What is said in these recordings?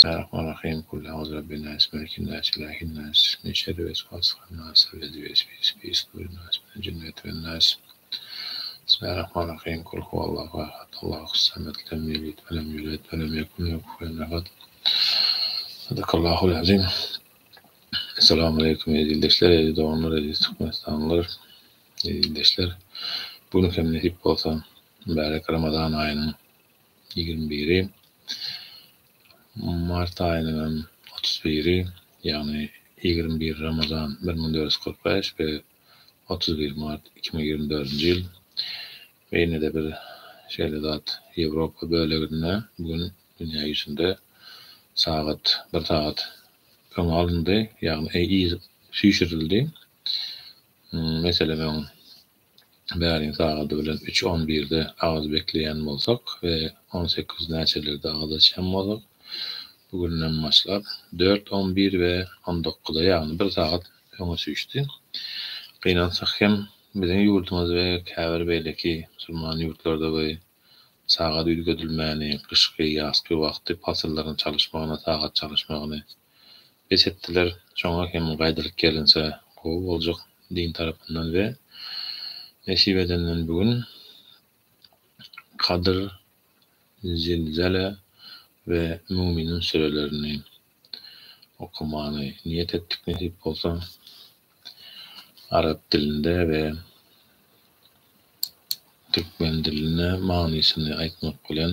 Sarp Al Rahimkulla Agzra Benaýys Merki Naýs Ilahi Naýs Ismi Şerif Esmasy Hannas Sallezi Ve Isbi Isbi Isturi Naýs Mine Jümlet Ve Naýs Bismillah Rahman Rahim Kul Huwallahu Ahad Allahu Samed Lem Ýelid Ve Lem Ýulet Ve Lem Ýekun Lehu Kufuwen Ahad Sadakallahul Azim Essalamu Aleýkum Eziz Ildeşler Eziz Doganlar Eziz Türkmenistanlylar Eziz Ildeşler Bu gün hem nesip bolsa Mübärek Ramazan Aýynyň ýigrimi biri, mart aýynyň hem otuz biri, ýagny ýigrimi bir Ramazan bir müň dört ýüz kyrk bäş we otuz bir mart iki müň ýigrimi dördünji ýyl. We ine-de bir şeýle zat, Ýewropa böleginde bu gün dünýä ýüzünde sagat bir sagat öňe alyndy, ýagny süýşürildi. Meselem, öň. bäriň sagady bilen üç on birde agyz bekleýän bolsak we on sekiz näçelerde agyz açýan bolak, bu günden başlap dört on bir we on dokuzda ýagny bir sagat öňe süýşdi. Gynansak hem biziň ýurdumyz we käbir beýleki musulman ýurtlarda we sagat üýtgedilmäni, gyşky, ýazky wagty pasyllaryň çalyşmagyny, sagat çalyşmagyny, Bes etdiler. Şoňa hem gaýdylyp gelinse gowy boljak din tarapyndan we nesip edenden bu gün Kadyr, Zilzele we Müminiň sürelerini okamany niýet etdik nesip bolsa arap dilinde we türkmen dilinde manysyny aýtmak bilen.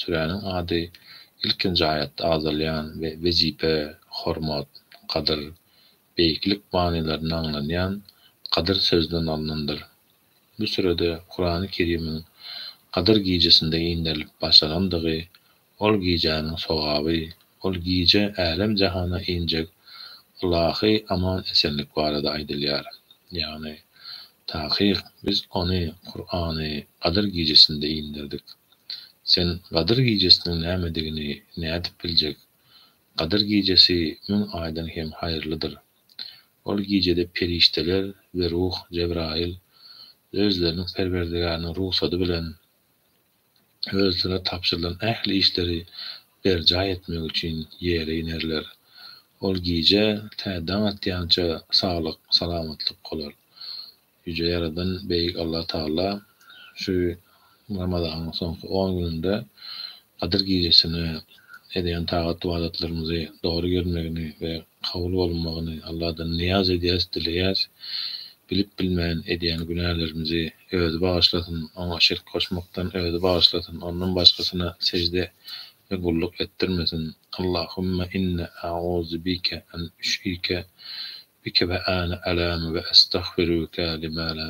Süräniň ady ilkinji aýatda agzalýan we wezipe, hormat, gadyr, beýiklik manylaryny aňladýan Gadyr sözünden alnandyr. Bu sürede Kurany Kerimiň Gadyr gijesinde inderilip başlanandygy, ol gijäniň sogaby, ol gije älem-jahana injek ylahy aman-esenlik barada aýdylýar. Ýagny, Takyk, biz ony, Kurany, Gadyr gijesinde inderdik. Sen Gadyr gijesiniň nämedigini nädip biljek? Gadyr gijesi müň aýdan hem haýyrlydyr. Ol gijede perişdeler we ruh, Jebraýyl, özleriniň Perwerdigäriniň rugsady bilen, özüne tabşyrylan ähli işleri berjaý etmek üçin ýere inerler. Ol gije tä daň atýança saglyk, salamatlyk bolar. Ýüje Ýaradan Beýik Allatagala şu Ramazanyň soňky on gününde Gadyr gijesine edýän tagat-ybadatlarymyzy dogry görmegini we kabul bolmagyny Alladan nyýaz edýäs, dileýäs. Bilip bilmän edýän günälerimizi Özi bagyşlasyn, Oňa şirk goşmakdan Özi bagyşlasyn, Ondan başgasyna sejde we gulluk etdirmesin. Allahümme inne a'uzu bike en üşike bike ve ane a'lemu ve estagfiruke lima la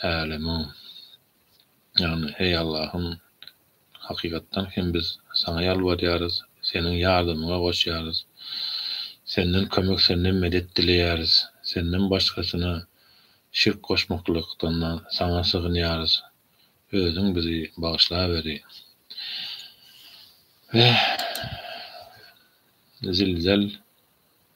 a'lemu. Ýagny, heý Allahym! Hakykatdan hem biz Saňa ýalbarýarys, Seniň ýardamyňa goşýarys. Senden kömek, Senden medet dileýäris. Senden başgasyna şirk goşmaklykdan-da Saňa sygynýarys. Özüň bizi bagyşlaweri. Weh, zilzel!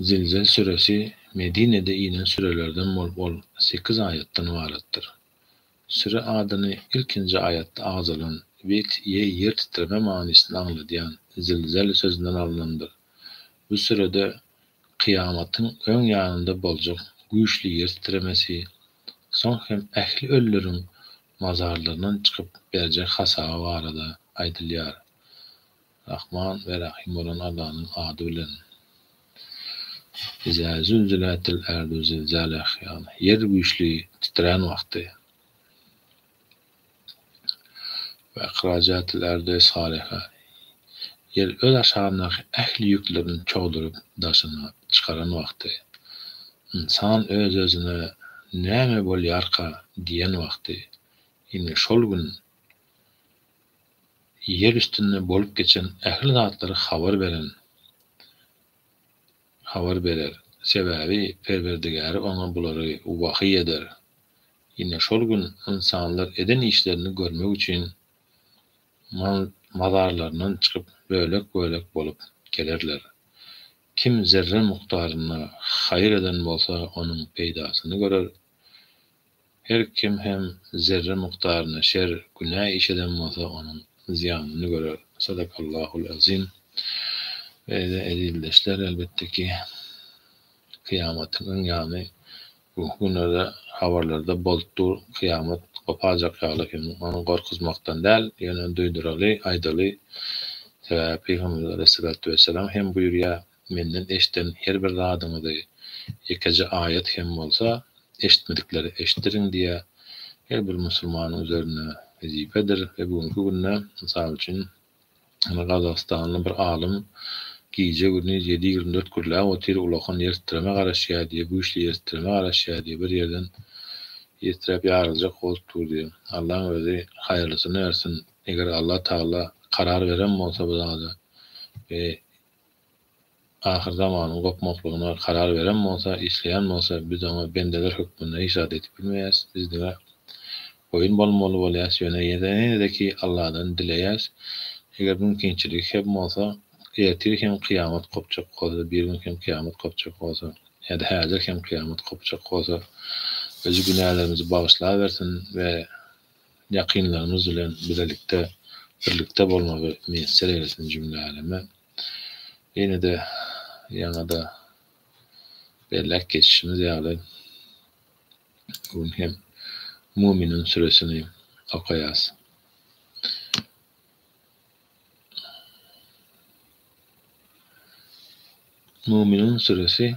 Zilzel süresi Medinede inen sürelerden bolup ol sekiz aýatdan ybaratdyr. Süre adyny ilkinji aýatda agzalan wet ýe ýer titreme manysyny aňladýan zilzel sözünden alnandyr. Bu sürede kyýamatyň öň ýanynda boljak güýçli ýer titremesi, soň hem ähli ölüleriň mazarlaryndan çykyp berjek hasaby barada aýdylýar. Rahman we Rahym bolan Allanyň ady bilen. Izâ zülzilâtil erdü zilzâlehâ, ýer güýçli titrän wagty. Ve ehrâcâtil erdü esgâlehâ, ýer öz aşagyndaky ähli ýüklerini çogduryp daşyna çykaran wagty. Ynsan öz-özüne, Näme bolýarka? diýen wagty. Ine, şol gün Ýer üstünde bolup geçen ähli zatlary habar beren habar berer, sebäbi Perwerdigäri oňa bulary wahyý eder. Ine şol gün ynsanlar eden işlerini görmek üçin mazarlaryndan çykyp bölek-bölek bolup gelerler. Kim zerre mukdaryna haýyr eden bolsa onuň peýdasyny görer, Her kim hem zerre mukdaryna şer, günä iş eden bolsa, onuň zyýanyny görer. Sadakallahul azim. Beýle ezizdeşler, elbetde ki, kyýamatyň öň ýany, bu günlerde habarlarda bolup dur, kyýamat goparjak ýaly hem, ony gorkuzmakdan däl, ýöne duýduraly, aýdaly, sebäbi Pygamberimiz aleyhissalatu wesselam hem buýurýar, Menden eşden her bir zadyňyzy ýekeje aýat hem bolsa eşitmediklere eşitdiriň diýýä her bir musulmanyň üzerine wezipedir we bu günki günde mysal üçin indi gazagystanly bir alym gije gündiz ýedi ýigrimi dört gürläp otyr ulakan ýertitreme garaşýa diýýä güýçli ýertitreme garaşýa diýýä bir ýerden ýetiräp ýaryljak bolup dur diýýä Allaň özi haýyrlysyny bersin eger Allah Tagala karar beren bolsa bu zada we Ahyr zamanyň gopmaklygyna karar beren bolsa, isleýän bolsa, biz oňa bendeler hökmünde hiç zat edip bilmeýäs. Biz diňe boýun bolmaly bolýas, ýöne ýene-de-ki Alladan dileýäs. Eger mümkinçiligi hem bolsa, ertir hem kyýamat gopjak bolsa, birigün hem kyýamat gopjak bolsa, ýa-da häzir hem kyýamat gopjak bolsa, özi günälerimizi bagyşlabersin we ýakynlarymyz bilen bilelikde, birlikde bolmagy miýesser eýlesin jümle äleme. Ýene-de ýaňa-da belläp geçişimiz ýaly, bu gün hem Muminiň süresini okaýas. Muminiň süresi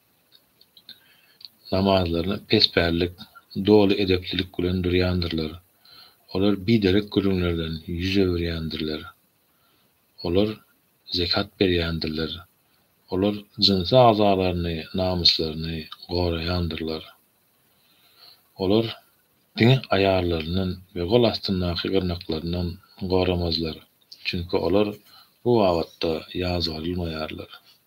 namazlaryny pespällik, doly edeplilik bilen durýandyrlar. Olar biderek gürrüňlerden ýüz öwürýändirler. Olar zekat berýändirler. Olar jynsy agzalaryny, namyslaryny goraýandyrlar. Olar diňe aýallaryndan we gol astyndaky gyrnaklaryndan goramazlar, çünki olar bu babatda ýazgarylmaýarlar.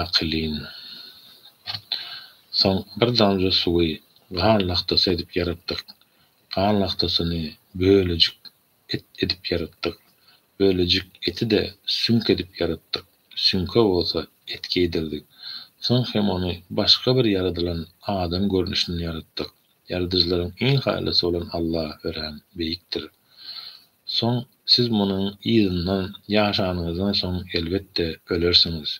Akylyn. Soň bir damja suwy gan lagtasy edip ýaratdyk. Gan lagtasyny bölejik et edip ýaratdyk. Bölejik eti-de süňk edip ýaratdyk. Süňke bolsa et geýdirdik. Soň hem ony başga bir ýaradylan adam görnüşinde ýaratdyk. Ýaradyjylaryň iň haýalysy bolan Alla örän beýikdir. Soň siz munuň yzyndan ýaşanyňyzdan soň elbetde ölersiňiz.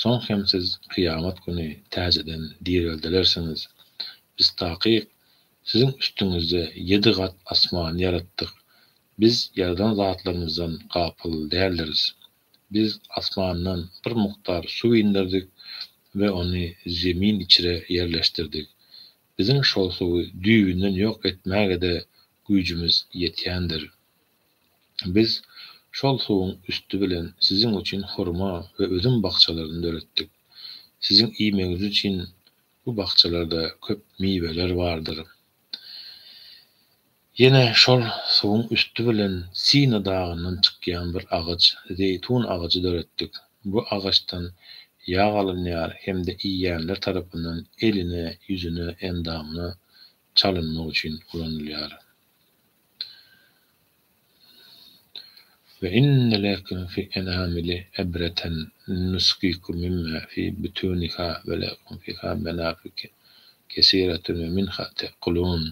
Soň hem siz kyýamat güni täzeden direldilersiňiz. Biz takyk, siziň üstüňizde ýedi gat asmany ýaratdyk. Biz ýaradan zatlarymyzdan gapyl däldiris. Biz asmandan bir mukdar suw inderdik we ony Zemin içre ýerleşdirdik. Biziň şol suwy düýbünden ýok etmäge-de güýjümiz ýetýändir. Biz şol suwuň üsti bilen siziň üçin hurma we üzüm bakjalaryny döretdik. Siziň iýmegiňiz üçin bu bakjalarda köp miweler bardyr. Ýene şol suwuň üsti bilen Sina dagyndan çykýan bir agaç, zeýtun agajy döretdik. Bu agaçdan ýag alynýar hem-de iýýänler tarapyndan eline, ýüzüne, endamyna çalynmak üçin ulanylýar. Ve inne lekum fi enamili ebreten nuskikum mimma fi butuniha ve lekum fiha menafiki kesiretun ve minha tekulun.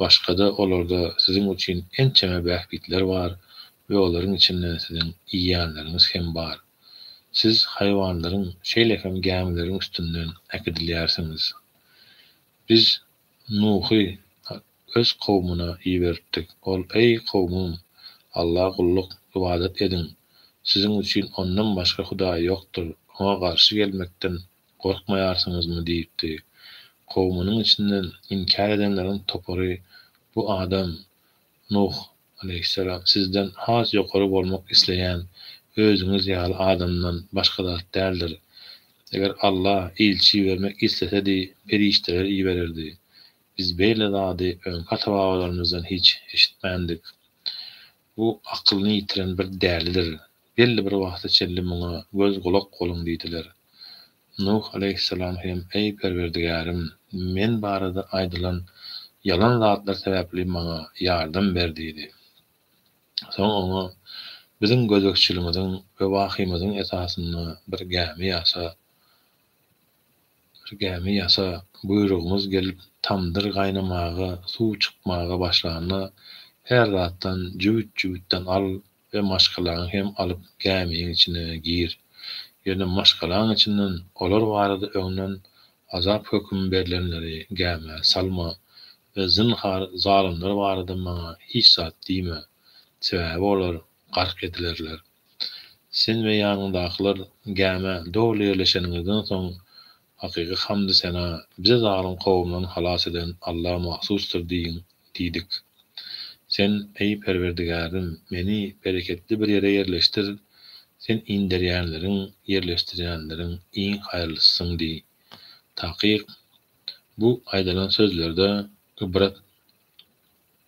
Başga-da olarda siziň üçin ençeme bähbitler bar we olaryň içinden siziň iýýänleriňiz hem bar. Siz haýwanlaryň, şeýle hem gämileriň üstünden äkidilýärsiňiz. Biz Nuhy Öz kowmuna iberipdik. Ol, Eý, kowmym! Alla gulluk, ybadat ediň. Siziň üçin Ondan başga Hudaý ýokdur. Oňa garşy gelmekden Gorkmaýarsyňyzmy? diýipdi. Kowumynyň içinden inkär edenleriň topary, Bu adam, Nuh, aleýhissalam, sizden has ýokary bolmak isleýän özüňiz ýaly adamdan başga zat däldir. Eger Alla ilçi ibermek islesedi, perişdeleri ibererdi. Biz beýle zady öňki ata-babalarymyzdan hiç eşitmändik. Bu akylyny ýitiren bir dälidir. Belli bir wagta çenli muňa göz-gulak boluň diýdiler. Nuh aleýhissalam hem, Eý, Perwerdigärim! Men barada aýdylan ýalan zatlar sebäpli maňa ýardam ber diýdi. Soň oňa, Biziň gözegçiligiňiziň we wahyýymyzyň esasynda bir gämi ýasa. Bir gämi ýasa, buýrugyňyz gelip, tamdyr gaýnamaga, suw çykmaga başlanda, her zatdan jübüt-jübütden al we maşgalaňy hem alyp gämiň içine gir. Ýöne maşgalaň içinden olar barada öňden azap hökümi berlenleri gämä salma we zynhar zalymlar barada maňa hiç zat diýme, sebäbi olar gark edilerler. Sen we ýanyňdakylar gämä doly ýerleşeniňizden soň, Hakyky hamdy-sena bizi zalym kowumdan halas eden Alla mahsusdyr diýiň diýdik. Sen, Eý, Perwerdigärim, meni bereketli bir ýere ýerleşdir, Sen inderýänleriň, ýerleşdirýänleriň iň haýyrlysysyň diý. Takyk, bu aýdylan sözlerde ybrat.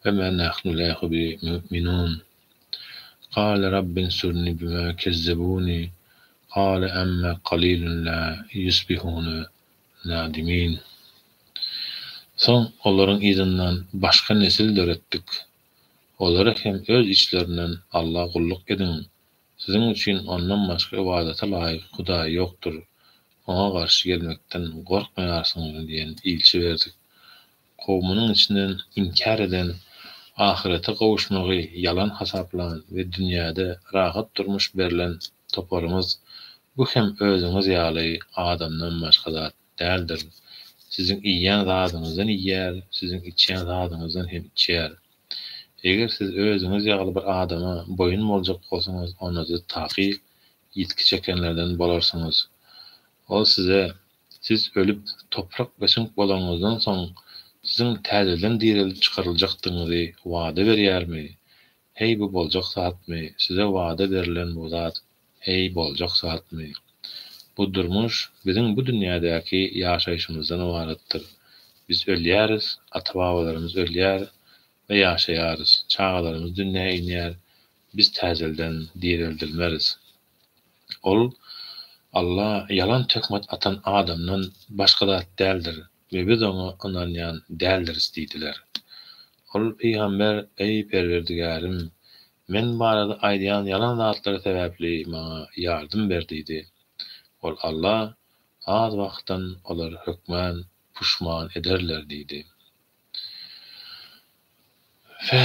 Fe ma nahnu lehu bi mu'minun. Gale Rabbinsurni bima kezzebuni, gale amma galilun la yusbihuna nadimin. Soň olaryň yzyndan başga nesil döretdik. Olara hem öz içlerinden Alla gulluk ediň, siziň üçin Ondan başga ybadata laýyk hudaý ýokdur, Oňa garşy gelmekden gorkmaýarsyňyzmy diýen ilçi berdik. kowumynyň içinden inkär eden, ahyrete gowuşmagy ýalan hasaplan we dünýäde rahat durmuş berlen toparyňyz bu hem özüňiz ýaly adamdan başga zat däldir. Siziň iýýän zadyňyzdan iýýär, siziň içýän zadyňyzdan hem içýär. Eger siz özüňiz ýaly bir adama boýun boljak bolsaňyz onda siz takyk ýitgi çekenlerden bolarsyňyz. Ol size Siz ölüp, toprak beşiňk bolanyňyzdan soň, siziň täzeden direlip çykaryljakdygyňyzy wada berýärmi? Heý, bu boljak zatmy? Size wada berlen bu zat, heý, boljak zatmy? Bu durmuş biziň bu dünýädäki ýaşaýşymyzdan ybaratdyr. Biz ölýäris, ata-babalarymyz ölýär we ýaşaýarys, çagalarymyz dünýä inýär, biz täzelden direldilmeris. Ol Alla ýalan töhmet atan adamdan başga zat däldir we biz oňa ynanýan däldiris diýdiler. Ol pygamber, Eý, Perwerdigärim! Men barada aýdýan ýalan zatlary sebäpli maňa ýardym ber diýdi. Ol Alla, Az wagtdan olar hökmän puşman ederler diýdi. Fe.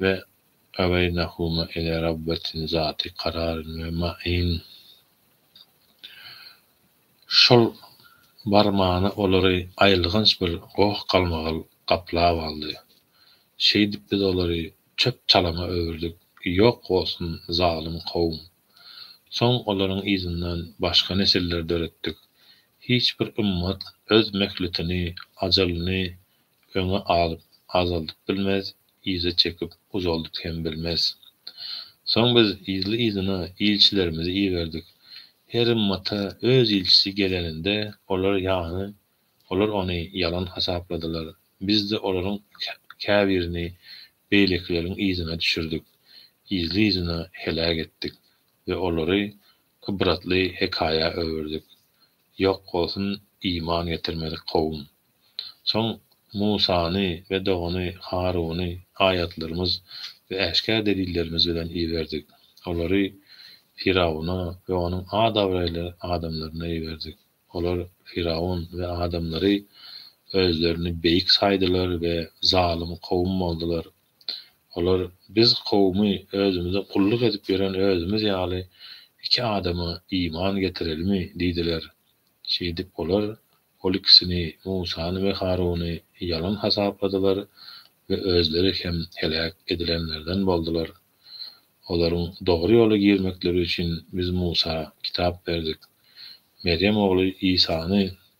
Ve gabeýnehuma ele Rabbetin zati kararin ve main. Şol barmana olary aýylganç bir goh galmagal gaplap aldy. Şeýdip biz olary çöp-çalama öwürdik, ýok bolsun zalym kowum! Soň olaryň yzyndan başga nesiller döretdik. Hiç bir ymmat öz mehletini, ajalyny Öňe alyp, azaldyp bilmez, yza çekip, uzaldyp hem bilmez. Soň biz yzly-yzyna ilçilerimizi iberdik. Her ymmata öz ilçisi geleninde, olar ýany, olar ony ýalan hasapladylar. Biz-de olaryň käbirini beýlekileriň yzyna düşürdik, yzly-yzyna heläk etdik we olary Ybratly hekaýa öwürdik. Ýok bolsun iman getirmedik kowum. Soň Musany we dogany Haruny aýatlarymyz we äşgär delillerimiz bilen iberdik. Olary Firawuna we onuň at-abraýly adamlaryna iberdik. Olar, Firawun we adamlary, özlerini beýik saýdylar we zalym kowum boldular. Olar biz kowumy özümize gulluk edip ýören özümiz ýaly iki adama iman getirelimi? diýdiler. Şeýdip olar ol ikisini, Musany we Haruny ýalan hasapladylar we özleri hem heläk edilenlerden boldular. Olaryň dogry ýola girmekleri üçin biz Musa kitap berdik. Merýem ogly Isany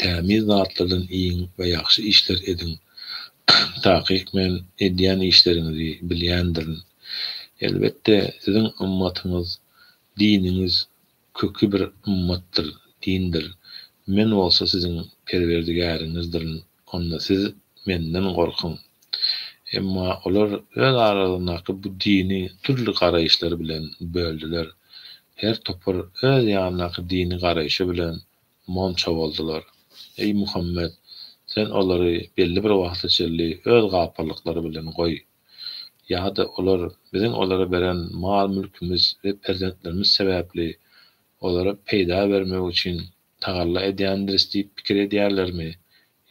Tämiz zatlardan iýiň we ýagşy işler ediň. Takyk men edýän işleriňizi bilýändirin. Elbetde, siziň ymmatyňyz, diniňiz köki bir ymmatdyr, dindir. Men bolsa siziň Perwerdigäriňizdirin, onda siz Menden gorkuň. Emma olar öz aralaryndaky bu dini dürli garaýyşlar bilen böldüler. Her topar öz ýanyndaky dini garaýşy bilen Monça boldular. Eý, Muhammet! Sen olary belli bir wagta çenli öz gapyrlyklary bilen goý. Ýa-da olar biziň olara beren mal-mülkimiz we perzentlerimiz sebäpli olara peýda bermek üçin tagalla edýändiris diýip pikir edýärlermi?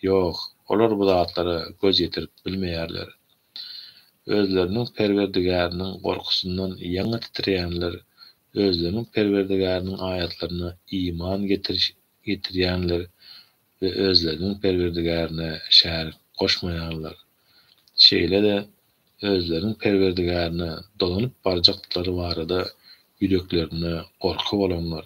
Ýok, olar bu zatlara göz ýetirip bilmeýärler. Özleriniň Perwerdigäriniň gorkusyndan ýaňa titreýänler, özleriniň Perwerdigäriniň aýatlaryna iman getiriş getirýänler we özleriniň Perwerdigärine şärik goşmaýanlar. Şeýle-de özleriniň Perwerdigärine dolanyp barjaklary barada ýüreklerinde gorky bolanlar,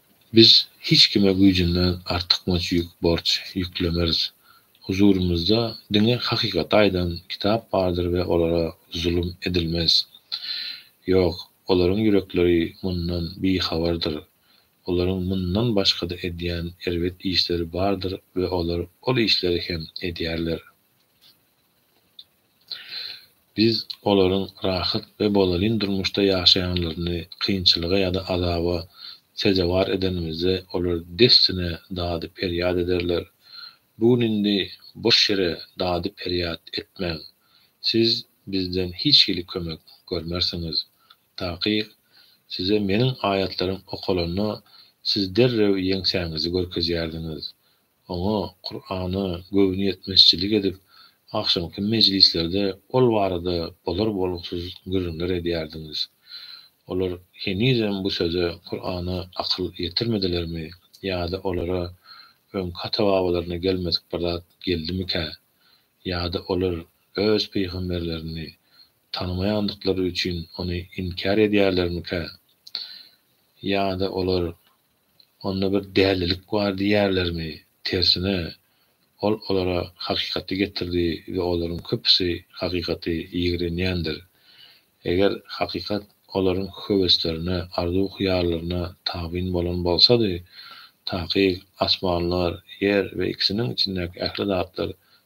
Biz hiç kime güýjünden artykmaç ýük, borç, ýüklemeris. Huzurymyzda diňe hakykaty aýdan kitap bardyr we olara zulum edilmez. Ýok, olaryň ýürekleri mundan bihabardyr. Olaryň mundan başga-da edýän erbet işleri bardyr we olar ol işleri hem edýärler. Biz olaryň rahat we bolalin durmuşda ýaşaýanlaryny kynçylyga ýa-da azaba sezewar edenimizde olar dessine dady-perýat ederler. Bu gün indi boş ýere dady-perýat etmäň. Siz bizden hiç hili kömek görmersiňiz. Takyk, Size Meniň aýatlarym okalanda, siz derrew ýeňsäňizi görkezýärdiňiz. oňa Kurana göwnüýetmezçilik edip, agşamky mejlislerde ol barada bolar-bolgusyz gürrüňler edýärdiňiz. Olar henizem bu söze, Kurana akyl ýetirmedilermi ýa-da olara öňki ata-babalaryna gelmedik bir zat geldimikä? Ýa-da olar öz pygamberlerini tanymaýandyklary üçin ony inkär edýärlermikä? Ýa-da olar onda bir dälilik bar diýerlermi? Tersine, ol olara hakykaty getirdi we olaryň köpüsi hakykaty ýigrenýändir. Eger hakykat olaryň höweslerine, arzuw-hyýallaryna tabyn bolan bolsady, takyk, asmanlar, ýer we ikisiniň içindäki ähli zatlar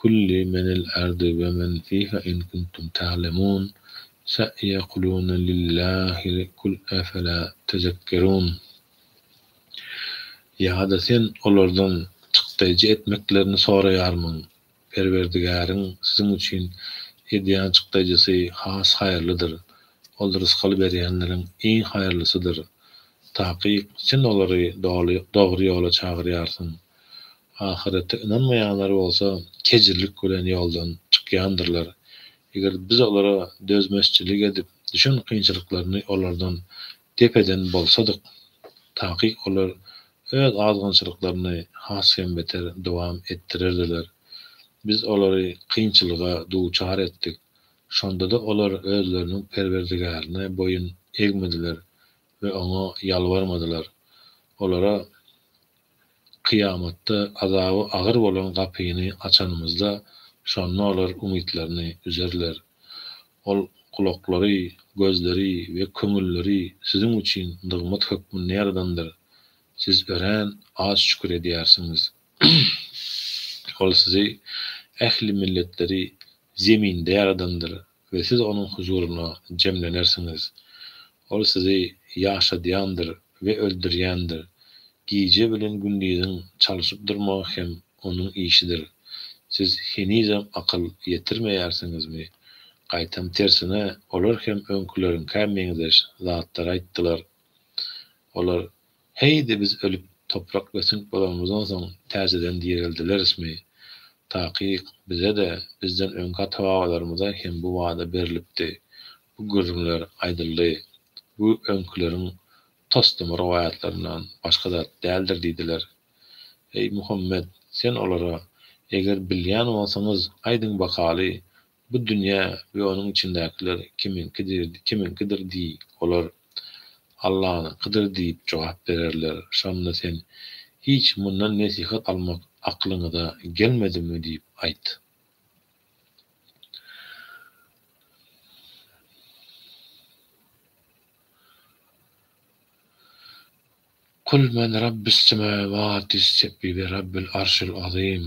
Kulli menil ardi we men fiha in kuntum ta'lemun sa yakuluna lillahi kul afala tezekkerun Ýa-da sen olardan çykdaýjy etmeklerini soraýarmyň? Perwerdigäriň siziň üçin edýän çykdaýjysy has haýyrlydyr. Ol rysgal berýänleriň iň haýyrlysydyr. Takyk, sen olary doly dogry ýola çagyrýarsyň. Ahyrete ynanmaýanlar bolsa kejirlik bilen ýoldan çykýandyrlar. Eger Biz olara dözmezçilik edip, düşen kynçylyklaryny olardan dep eden bolsadyk, takyk olar öz azgynçylyklaryny has hem beter dowam etdirerdiler. Biz olary kynçylyga duçar etdik. Şonda-da olar özleriniň Perwerdigärine boýun egmediler we Oňa ýalbarmadylar. Olara, Kyýamatda azaby agyr bolan gapyny açanymyzda, şonda olar umytlaryny üzerler. Ol gulaklary, gözleri we köňülleri siziň üçin nygmat hökmünde ýaradandyr. Siz örän az şükür edýärsiňiz. Ol sizi ähli milletleri zeminde ýaradandyr we siz Onuň huzuryna jemlenersiňiz. Ol sizi ýaşadýandyr we öldürýändir. Gije bilen gündiziň çalşyp durmagy hem Onuň işidir. Siz henizem akyl ýetirmeýärsiňizmi? Gaýtam tersine, olar hem öňküleriňkä meňzeş zatlar aýtdylar. Olar Heý-de biz ölüp, toprak we süňk bolanymyzdan soň täzeden direldilerismi? Takyk, bize-de, bizden öňki ata-babalarymyza hem bu wada berlipdi. Bu gürrüňler aýdyldy. Bu öňküleriň toslama rowaýatlaryndan başga zat däldir diýdiler. Eý, Muhammet, sen olara, Eger bilýän bolsaňyz, aýdyň bakaly, Bu dünýä we onuň içindäkiler kimiňkidir diý. Olar, Allanyňkydyr diýip jogap bererler. Şonda sen, Hiç mundan nesihat almak aklyňyza gelmedimi? diýip aýt. Kul men Rabbüs semawati s-sebbi we Rabbil arşil azym.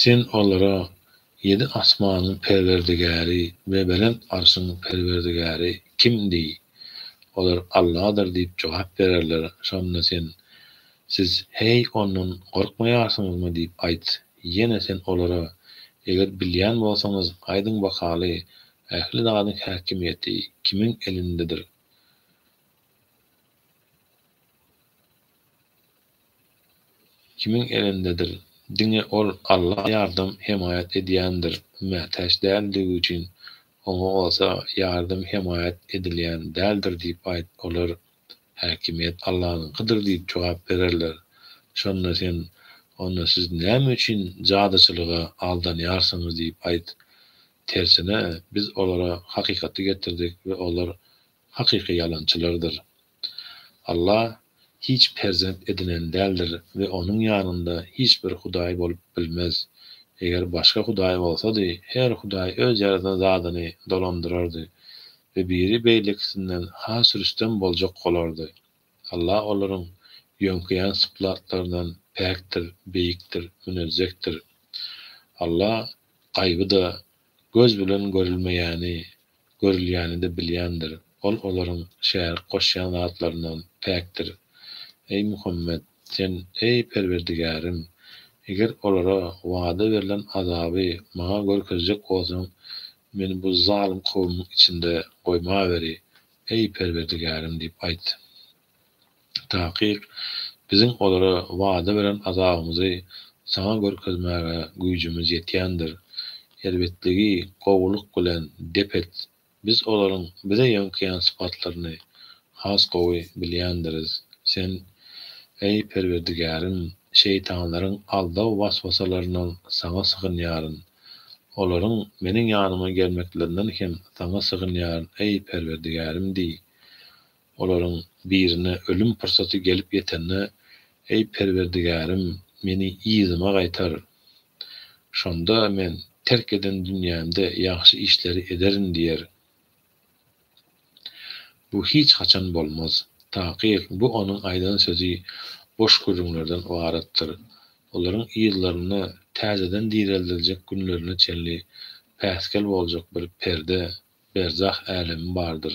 Sen olara, Ýedi asmanyň Perwerdigäri we belent arşyň Perwerdigäri kim? diý. Olar, Alladyr diýip jogap bererler. Şonda sen, Siz, heý, Ondan gorkmaýarsyňyzmy? diýip aýt. Ýene sen olara, Eger bilýän bolsaňyz, aýdyň bakaly, ähli zadyň häkimiýeti kimiň elindedir? Kimiň elindedir. Diňe ol Alla ýardam, hemaýat edýändir. Mätäç däldigi üçin oňa bolsa ýardam, hemaýat edilýän däldir diýip aýt. Olar, Häkimiýet Allanyňkydyr diýip jogap bererler. Şonda sen, Onda siz näme üçin jadyçylyga aldanýarsyňyz diýip aýt. Tersine, biz olara hakykaty getirdik we olar hakyky ýalançylardyr. Allah hiç perzent edinen däldir we Onuň ýanynda hiç bir hudaý bolup bilmez. Eger başga hudaý bolsady, her hudaý öz ýaradan zadyny dolandyrardy we biri beýlekisinden has rüstem boljak bolardy. Allah olaryň ýöňkeýän syplatlaryndan päkdir, beýikdir, münezzehdir. Allah gaýby-da, Göz bilen görülmeýäni, görülýäni-de bilýändir. Ol olaryň şärik goşýan zatlaryndan päkdir. Eý Muhammet! Sen, Eý Perwerdigärim! Eger olara wada berlen azaby maňa görkezjek bolsaň, meni bu zalym kowumyň içinde goýmaweri, eý Perwerdigärim! diýip aýt. Takyk, biziň olara wada beren azabymyzy saňa görkezmäge güýjümiz ýetýändir. Erbetligi gowulyk bilen dep et. Biz olaryň bize ýöňkeýän sypatlaryny has gowy bilýändiris. Sen, eý, Perwerdigärim, şeýtanlaryň aldaw was-wasalaryndan Saňa sygynýaryn. Olaryň meniň ýanyma gelmeklerinden hem Saňa sygynýaryn, eý, Perwerdigärim! diý. Olaryň birine ölüm pursaty gelip ýetende, Eý, Perwerdigärim, meni yzyma gaýtar. Şonda men terk eden dünýämde ýagşy işleri ederin diýer. Bu hiç haçan bolmaz. Takyk, bu onuň aýdan sözi boş gürrüňlerden ybaratdyr. Olaryň yzlaryna täzeden direldiljek günlerine çenli päsgel boljak bir perde, berzah älemi bardyr.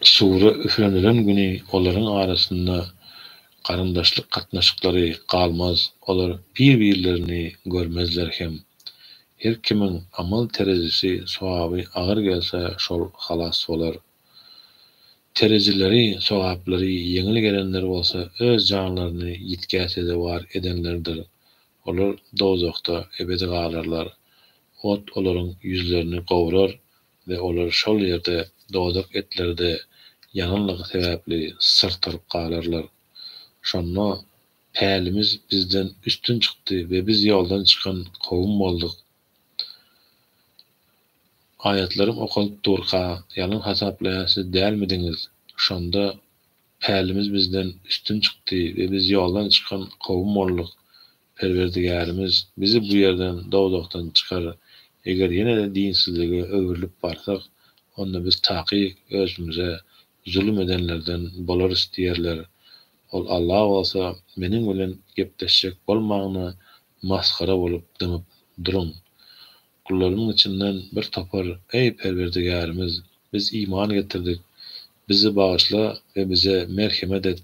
Sure üflenilen güni olaryň arasynda garyndaşlyk gatnaşyklary galmaz, olar bir-birlerini görmezler hem. Her kimiň amal terezisi sogaby agyr gelse şol halas bolar. Terejileri, sogaplary ýeňil gelenler bolsa öz janlaryny ýitgä sezewar edenlerdir. Olar dowzahda ebedi galarlar. Ot olaryň ýüzlerini gowrar we olar şol ýerde dozak etlerde ýananlygy sebäpli syrtaryp galarlar. Şonda, Pälimiz bizden üstün çykdy we biz ýoldan çykan kowum bolduk Aýatlarym okalyp durka, ýalan hasaplaýan siz dälmidiňiz? Şonda pälimiz bizden üstün çykdy we biz ýoldan çykan kowum bolduk. Perwerdigärimiz, Bizi bu ýerden, dowzahdan, çykar. Eger ýene-de dinsizlige öwrülip barsak, onda biz takyk özümize zulum edenlerden bolarys diýerler. Ol Alla bolsa, Meniň bilen gepleşjek bolmagyna Masgara bolup dymyp duruň. Gullarymyň içinden bir topar, Eý, Perwerdigärimiz, biz iman getirdik, bizi bagyşla we bize merhemet et,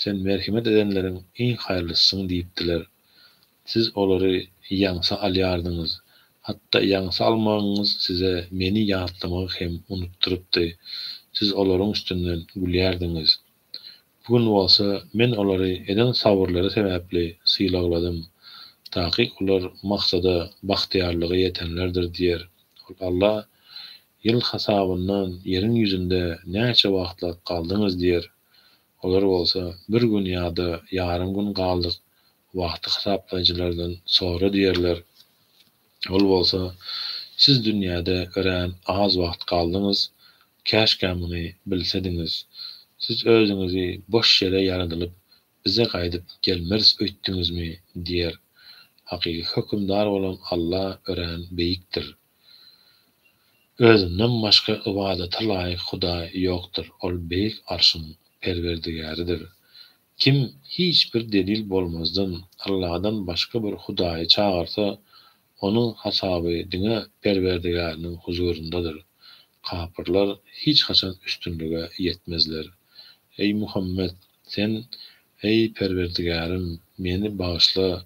Sen merhemet edenleriň iň haýyrlysysyň diýipdiler. Siz olary ýaňsa alýardyňyz. Hatda ýaňsa almagyňyz size Meni ýatlamagy hem unutdyrypdy. Siz olaryň üstünden gülýärdiňiz. Bu gün bolsa men olary eden sabyrlary sebäpli sylagladym, taky olar maksada, bagtyýarlyga ýetenlerdir diýer. Ol Alla, Ýyl hasabyndan ýeriň ýüzünde näçe wagtlap galdyňyz diýer. Olar bolsa, Bir gün ýa-da ýarym gün galdyk, wagty hasaplaýjylardan sora diýerler. Ol bolsa, Siz dünýäde örän az wagt galdyňyz, käşgä muny bilsediňiz. Siz özüňizi boş ýere ýaradylyp, bize gaýdyp gelmeris öýtdüňizmi? diýer. Hakyky Hökümdar bolan Alla örän beýikdir. Özünden başga ybadata laýyk Hudaý ýokdur. Ol beýik Arşyň Perwerdigäridir. Kim hiç bir delil bolmazdan Allahdan başga bir hudaýy çagyrsa, onuň hasaby diňe Perwerdigäriniň huzuryndadyr. Kapyrlar hiç haçan üstünlige ýetmezler. Eý Muhammet! Sen, Eý Perwerdigärim, meni bagyşla,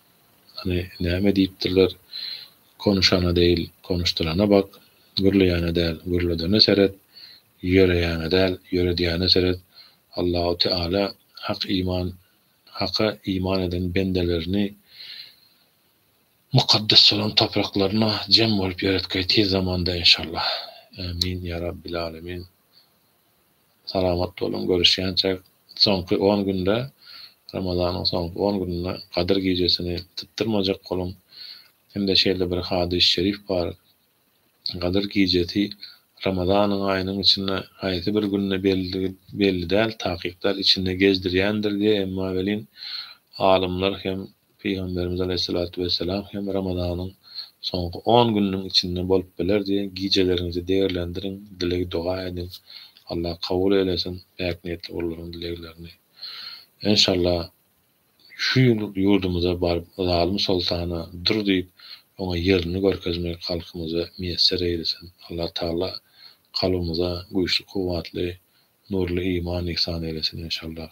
Hany näme diýipdirler, Konuşana deýil, konuşdyrana bak, gürleýäne däl, gürledene seret, ýöreýäne däl, ýöredýäne seret. Allahu Teala hak iman Haka iman eden bendelerini mukaddes bolan topraklaryna jem bolup ýöretgeý tiz zamanda enşallah. Ämin ýa Rabbil Alemin. Salamat boluň, görüşýänçäk. Soňky on günde, Ramazanyň soňky on gününde Gadyr gijesini sypdyrmajak boluň. Hem-de şeýle bir hadys şerif bar, Gadyr gijesi Ramazanyň aýynyň içinde haýsy bir günde belligi belli däl, takyk däl, içinde gezdirýändir diýe, emma welin alymlar hem Pygamberimiz aleýhissalatu wessalam hem Ramazanyň soňky on gününiň içinde bolup biler diýen gijeleriňizi degerlendiriň, dileg-doga ediň, Allah kabul eýlesin päk niýetli gullaryň dileglerini. Enşalla şu ýyl ýurdumyza baryp zalym soltana dur diýip oňa ýerini görkezmek halkymyza miýesser eýlesin. Allah Taala kalbymyza güýçli kuwwatly, nurly iman ihsan eýlesin enşallah.